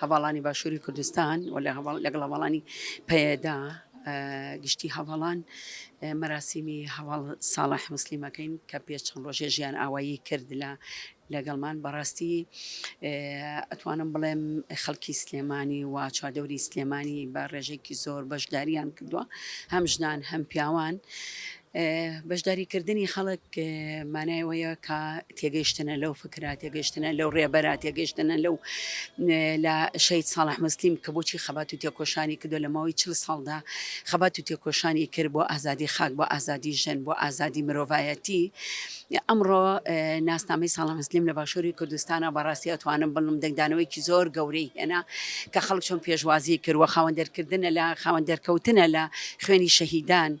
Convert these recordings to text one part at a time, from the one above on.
هەڤاڵانی باشووری کوردستان و لەگەڵ هەواڵانی پەیەدا گشتی هەواڵان مەراسیمی هەواڵ ساڵح مسللیمەکەین کە پێ چەند ڕۆژێ ژیان ئاوایی کرد لە لەگەڵمان بەڕاستی ئەتوانم بڵێم خەڵکی سلێمانی و چادەوری سلێمانی بە ڕێژێکی زۆر بەشداریان کردووە هەم ژنان هەم پیاوان بەشداری کردنی خەڵک مانای وەیە کە تێگەیشتنە لەو فکرا تێگەشتنە لەو ڕێبەر تێگەشتنە لەو لە شەید ساڵح مسلیم کە بۆچی خەبات و تێکۆشانی کردو لە ماوەی چل ساڵدا خەبات و تێکۆشانی کرد بۆ ئازادی خاک بۆ ئازادی ژەن بۆ ئازادی مرۆڤایەتی ئەمڕۆ ناسنامەی ساڵە مسلیم لە باشووری کوردستانە بەڕاستی ئەتوانم بڵم دەنگدانەوەیکی زۆر گەورەی هێنا کە خەڵک چۆن پێشوازی کردوە خاوەن دەرکردنە لە خاوەن دەرکەوتنە لە خوێنی شەهیدان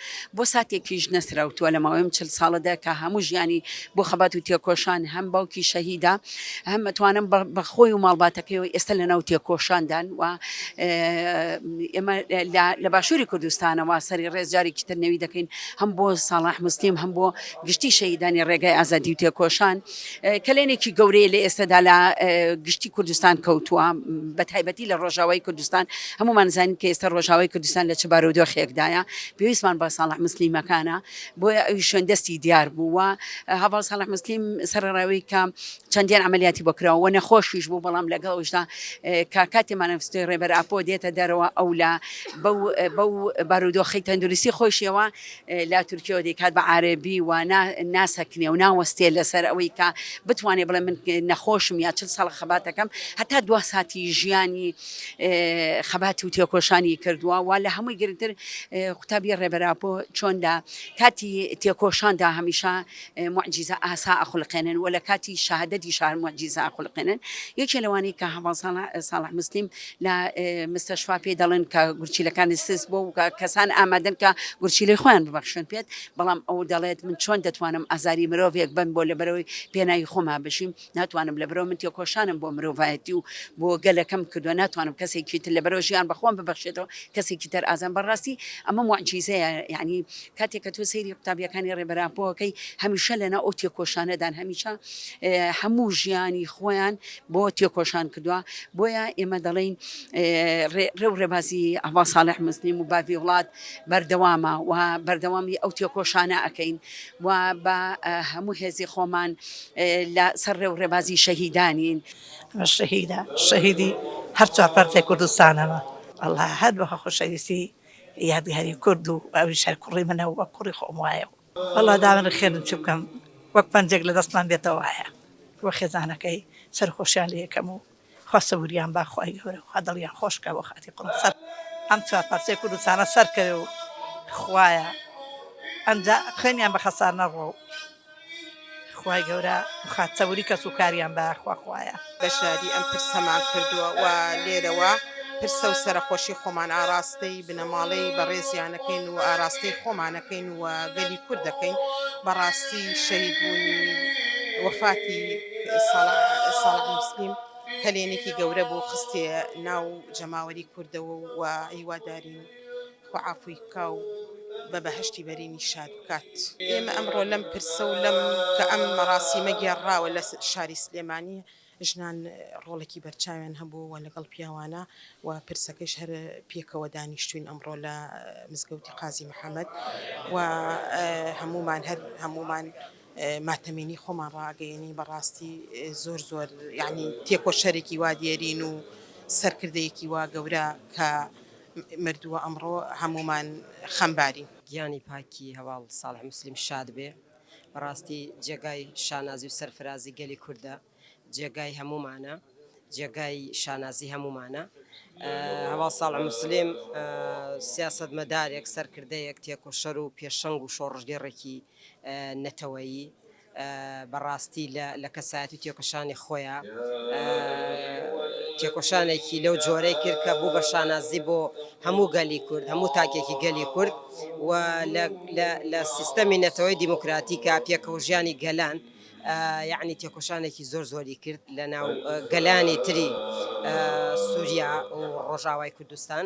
بۆ ساتێکیش نەسراوتووە لە ماوەی ئەم چل ساڵەدا کە هەموو ژیانی بۆ خەبات و تێکۆشان هەم باوکی شەهیدا هەم متوانم بە خۆی و ماڵباتەکەیەوە ئێستا لە ناو تێکۆشاندان و ئێمە لە باشووری کوردستانەوە سەری ڕێز جارێکی تر نەوی دەکەین هەم بۆ ساڵح مستیم هەم بۆ گشتی شەهیدانی ڕێگای ئازادی و تێکۆشان کەلێنێکی گەورەیە لە ئێستەدا لە گشتی کوردستان کەوتووە بە تایبەتی لە ڕۆژاوای کوردستان هەمومان زانین کە ئێستا ڕۆژاوای کوردستان لە چ بارودۆخێکدایە پێویستمان بە ساڵح مسلیمەکانە بۆیە ئەوی شوێن دەستی دیار بووە هەواڵ ساڵح مسلیم سەرڕاوی کە چەندیان عملیاتی بکراوە نەخۆشیش بوو بەڵام لەگەڵشدا کاکاتی مانەفستۆی ڕێبەر ئاپۆ دێتە دەرەوە ئەو لە بەو بارودۆخی تەندروستی خۆشیەوە لە تورکیەوە دەیکات بە عارەبی و نا ناسەکنێ و ناوەستێ لەسەر ئەوەی کە بتوانێ بڵێ من نەخۆشم یا چل ساڵ خەباتەکەم هەتا دوا ساتی ژیانی خەباتی و تێکۆشانی کردووە وا لە هەمووی گرنگتر قوتابی ڕێبەراپۆ چۆن لە کاتی تێکۆشاندا هەمیشە موعجیزە ئاسا ئەخولقێنن و لە کاتی شەهادەتی شا هەر موعجیزە ئەخولقێنن یەکێ لەوانەی کە هەڤاڵ ساڵح موسلیم لە مستەشفا پێی دەڵێن کە گورچیلەکانی سس بۆ و کەسان ئامادەن کە گورچیلەی خۆیان ببەخشن پێت بەڵام ئەو دەڵێت من چۆن دەتوانم ئازاری مرۆڤێک بم بۆ لەبەرەوەی پێناوی خۆما بژیم ناتوانم لەبەرەوە من تێکۆشانم بۆ مرۆڤایەتی و بۆ گەلەکەم کردووە ناتوانم کەسێکی تر لەبەرەوە ژیان بەخۆم ببەخشێتەوە کەسێکی تەر ئازان بەڕاستی ئەمە معجیزەیە یعنی کاتێک کە تۆ سەیری قوتابیەکانی ڕێبەراپۆەکەی هەمیشە لەنا ئەو تێکۆشانەدان هەمیشە هەموو ژیانی خۆیان بۆ تێکۆشان کردووە بۆیە ئێمە دەڵین ڕێ و ڕێبازی ئەوا ساڵح مسلیم و باڤی وڵات بەردەوامە و بەردەوامی ئەو تێکۆشانە ئەەکەین و بە هەموو هێزی خۆمان لە سەر ڕێ و ڕێبازی شەهیدانین. شەهیدە شەهیدی هەر چوار پارچەی کوردستانەوە. وەڵا هەر بە خۆشەویستی یادگاری کورد و ئەویش هەر کوڕی منە و وەک کوڕی خۆم وایە و وەڵا داوەنە خێرم چ بکەم وەک پەنجێک لە دەستمان بێتەوە وایە و خێزانەکەی سەرخۆشیان لێ یەکەم و خوا سەبوریان با خوای گەورە خوا دڵیان خۆش کا بۆ خاتری قوڕم سەر ئەم چوار پارچەی کوردستانە سەر کەوێ و خوایە ئەمجا خوێنیان بە خەسار نەڕۆ و خوای گەورە خات سەبوری کەس و کاریان با خوا خوایە بەشداری ئەم پرسەمان کردووە و لێرەوە پرسە و سەرەخۆشی خۆمان ئاراستەی بنەماڵەی بەڕێزیانەکەین و ئاراستەی خۆمانەکەین و گەلی کورد دەکەین بەڕاستی شەید بوونی وەفاتی ساڵسلیم کەلێنێکی گەورە بۆ خستێ ناو جەماوەری کوردەوە و هیوادارین خوعافوی کا و بە بەهشتی بەرینی شاد بکات ئێمە ئەمڕۆ لەم پرسە و لەم کە ئەم مەڕاسی مەگێڕراوە لە شاری سلێمانیە ژنان ڕۆڵێکی بەرچاویان هەبووە لەگەڵ پیاوانە و پرسەکەیش هەر پێکەوە دانیشتووین ئەمڕۆ لە مزگەوتی قازی محەمەد و هەموومان هەر هەموومان ماتەمینی خۆمان ڕاگەیەنی بەڕاستی زۆر زۆر یعنی تێکۆشەرێکی وا دێرین و سەرکردەیەکی وا گەورە کە مردووە ئەمڕۆ هەموومان خەمبارین. گیانی پاکی هەواڵ ساڵح موسلیم شاد بێ. بەڕاستی جێگای شانازی و سەرفرازی گەلی کوردە جێگای هەموومانە جێگای شانازی هەموومانە هەواڵ ساڵ مسلیم سیاست مەدارێک سەرکردەیەک تێکۆشەر و پێشەنگ و شۆڕژگەڕێکی نەتەوەیی بەڕاستی لە کەسایەتی تێکەشانی خۆیان تێکۆشانێکی لەو جۆرەی کرد کە بوو بە شانازی بۆ هەموو گەلی کورد هەموو تاکێکی گەلی کورد و لە لە لە سیستەمی نەتەوەی دیموکراتیکا پێکەوەژیانی گەلان یەعنی تێکۆشانێکی زۆر زۆری کرد لە ناو گەلانی تری سووریا و ڕۆژاوای کوردستان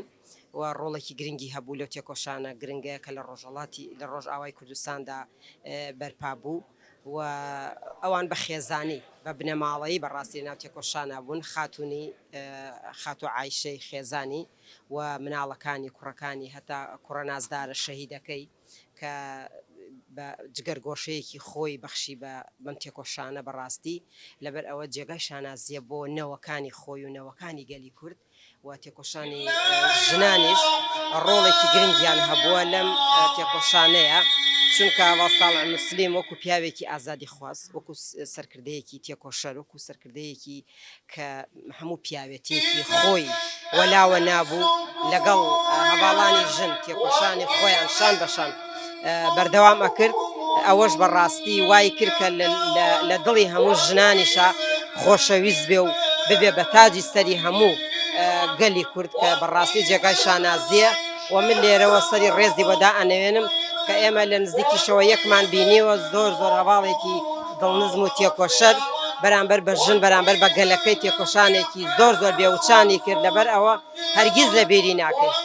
و ڕۆڵێکی گرنگی هەبوو لەو تێکۆشانە گرنگەیە کە لە ڕۆژهڵاتی لە ڕۆژاوای کوردستاندا بەرپا بوو و ئەوان بە خێزانی بە بنەماڵەی بەڕاستی ناو تێکۆشانە بوون خاتونی خاتو عیشەی خێزانی و مناڵەکانی کوڕەکانی هەتا کوڕە نازدارە شەهیدەکەی کە بە جگەرگۆشەیەکی خۆی بەخشی بە بەم تێکۆشانە بەڕاستی لەبەر ئەوە جێگای شانازیە بۆ نەوەکانی خۆی و نەوەکانی گەلی کورد و تێکۆشانی ژنانیش ڕۆڵێکی گرنگیان هەبووە لەم تێکۆشانەیە چونکە وەساڵ مسلیم وەکو پیاوێکی ئازادی خواست وەکو سەرکردەیەکی تێکۆشەر وەکو سەرکردەیەکی کە هەموو پیاوێتیەکی خۆی وەلاوە نابوو لەگەڵ هەواڵانی ژن تێکۆشانی خۆیان شان بەشان بەردەوام ئەکرد ئەوەش بەڕاستی وای کردکە لە دڵی هەموو ژنانیشە خۆشەویست بێ و ببێ بە تاجی سەری هەموو گەلی کورد کە بەڕاستی جێگای شانازیە و من لێرەوە سەری ڕێزی بەدا ئەنەوێنم کە ئێمە لە نزیکیشەوە یەکمان بینیوە زۆر زۆر هەواڵێکی دڵنزم و تێکۆشەر بەرامبەر بە ژن بەرامبەر بە گەلەکەی تێکۆشانێکی زۆر زۆر بێوچانی کرد لەبەر ئەوە هەرگیز لە بیری ناکەین.